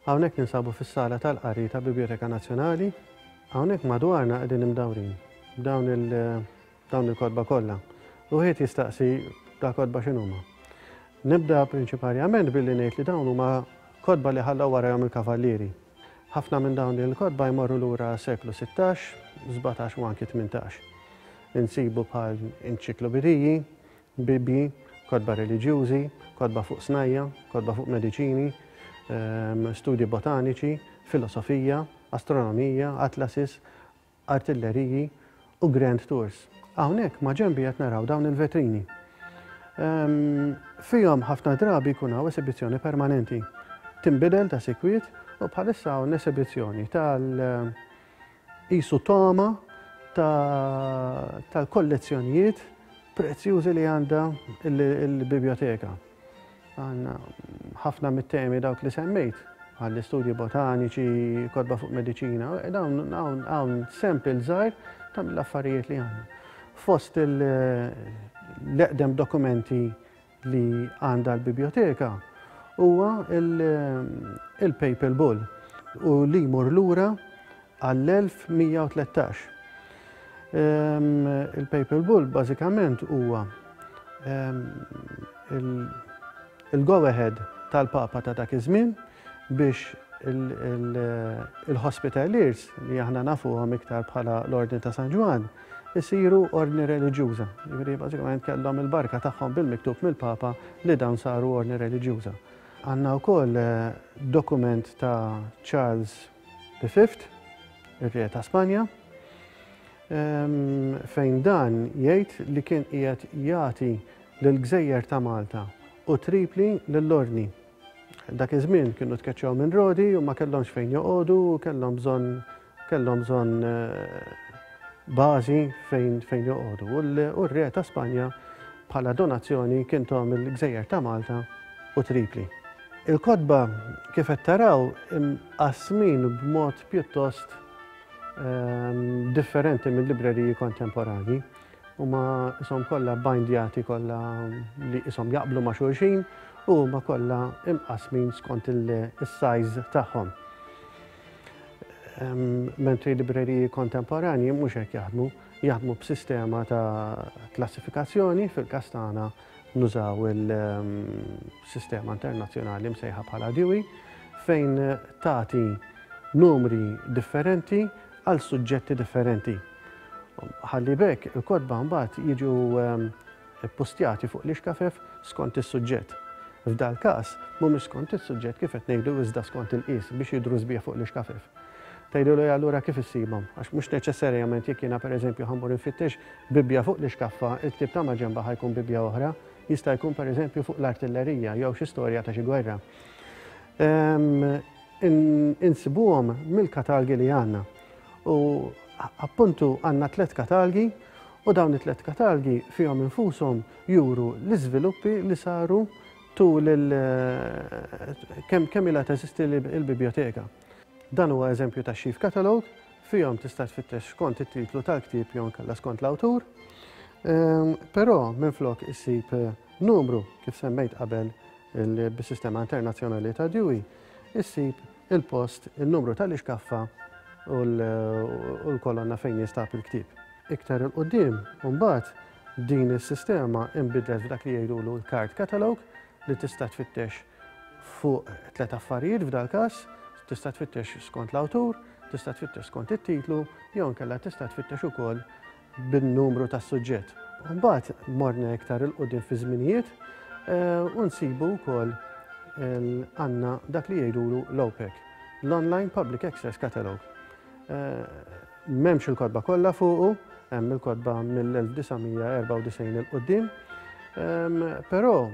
Hawnhekk ninsabu fis-sala tal-qari ta' Biblioteka Nazzjonali. Hawnhekk madwarna qegħdin imdawrin. Dawn il- dawn il-kotba kollha. Wieħed jistaqsi da kotba x'inhuma. Nibda prinċiparjament billi ngħid li dawn huma kotba li ħallew warajhom il-kavallieri. Ħafna minn dawn il-kotba jmorru lura seklu 16, 17 u anki 18. Insibu bħal inċiklobidiji, bibji, kotba reliġjużi, kotba fuq snajja, kotba fuq mediċini, ehm, studji botaniċi, filosofija, astronomija, atlasis, artilleriji u grand tours. Hawnhekk maġenbi qed naraw dawn il-vetrini. Fihom ħafna drabi jkun hawn esibizzjoni permanenti. Tinbidel ta' sikwit u bħalissa hawn esibizzjoni tal-isu toma tal-kollezzjonijiet prezzjużi li għandha l-biblioteka. Għandna ħafna mit-temi dawk li semmejt, bħall-istudji botaniċi, kotba fuq mediċina, dawn hawn sempil żgħir ta' mill-affarijiet li għandna. Fost l-eqdem dokumenti li għandha l-biblioteka huwa il-Papal Bull u li jmur lura għall-1113. Il-Papal Bull bażikament huwa il-go ahead tal-Papa ta' dak iż-żmien biex il-Hospitaliers li aħna nafuhom iktar bħala l-Ordni ta' San Ġwan isiru ordni reliġjuża. Jiġifieri bażikament kellhom il-barka tagħhom bil-miktub mill-Papa li dawn saru ordni reliġjuża. Għandna wkoll eh, dokument ta' Charles The Fifth, ir-Re ta' Spanja, fejn dan jgħid li kien qiegħed jagħti lill-gżejjer ta' Malta u Tripli lill-Ordni. Dak iż-żmien kienu tkeċċew minn Rodi u ma kellhomx fejn joqogħdu u kellhom bżonn kellhom bżonn bażi fejn fejn joqogħdu. U r-Re ta' Spanja bħala donazzjoni kien tom il-gżejjer ta' Malta u Tripli. Il-kotba kif qed taraw imqassmin b'mod pjuttost differenti mill-libreriji kontemporanji. Huma ishom kollha bindjati kollha li ishom jaqblu ma' xulxin u huma kollha imqassmin skont il-sajż tagħhom. Mentri libreriji kontemporanji mhux hekk jaħdmu, jaħdmu b'sistema ta' klassifikazzjoni fil-kastana nużaw il-sistema internazzjonali msejħa bħala DIWI fejn tagħti numri differenti għal suġġetti differenti. Ħalli bekk il-kodba mbagħad jiġu ehm, postjati fuq l-ixkafef skont is-suġġett. F'dal każ mhumiex skont is-suġġett kif qed ngħidu iżda skont il-qis biex jidru sbieħ fuq l-ixkafef. Tgħidu li allura kif issibhom? Għax mhux neċessarjament jekk jiena pereżempju ħammur infittex Bibbja fuq l-ixkaffa, il-ktieb ta' maġenba ħa jkun Bibbja oħra, jista' jkun pereżempju fuq l-artillerija jew xi storja ta' xi gwerra. Insibuhom mill-katalgi li għandna. U appuntu għandna tliet katalgi u dawn it-tliet katalgi fihom infushom juru l-iżviluppi li saru tul kemm ilha teżisti l-biblioteka. Dan huwa eżempju ta' Sheaf Catalogue, fihom tista' tfittex skont it-titlu tal-ktieb jew inkella skont l-awtur. Ehm, però minflok issib eh, numru kif semmejt qabel bis-sistema internazzjonali ta' Dewey, issib il-post, il-numru tal-ixkaffa u l-kolonna fejn jinstab il-ktieb. Iktar il-qoddim, mbagħad din is-sistema imbidlet f'dak li jgħidulu l-card catalog, li tista' tfittex fuq tliet affarijiet f'dal-każ, tista' tfittex skont l-awtur, tista' tfittex skont it-titlu jew inkella tista' tfittex ukoll bin-numru tas-suġġett. Mbagħad morna iktar 'il quddiem fiż-żminijiet u nsibu wkoll għandna dak li jgħidulu l-OPAC, l-Online Public Access Catalogue. M'hemmx il-kotba kollha fuqu, hemm il-kotba mill-1994 'il quddiem, però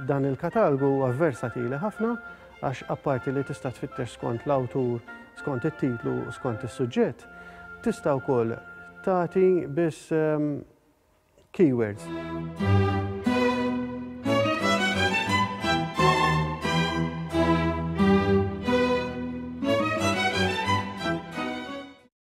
dan il-katalgu huwa versatili ħafna għax apparti li tista' tfittex skont l-awtur, skont it-titlu u skont is-suġġett, tista' wkoll tagħti biss Keywords.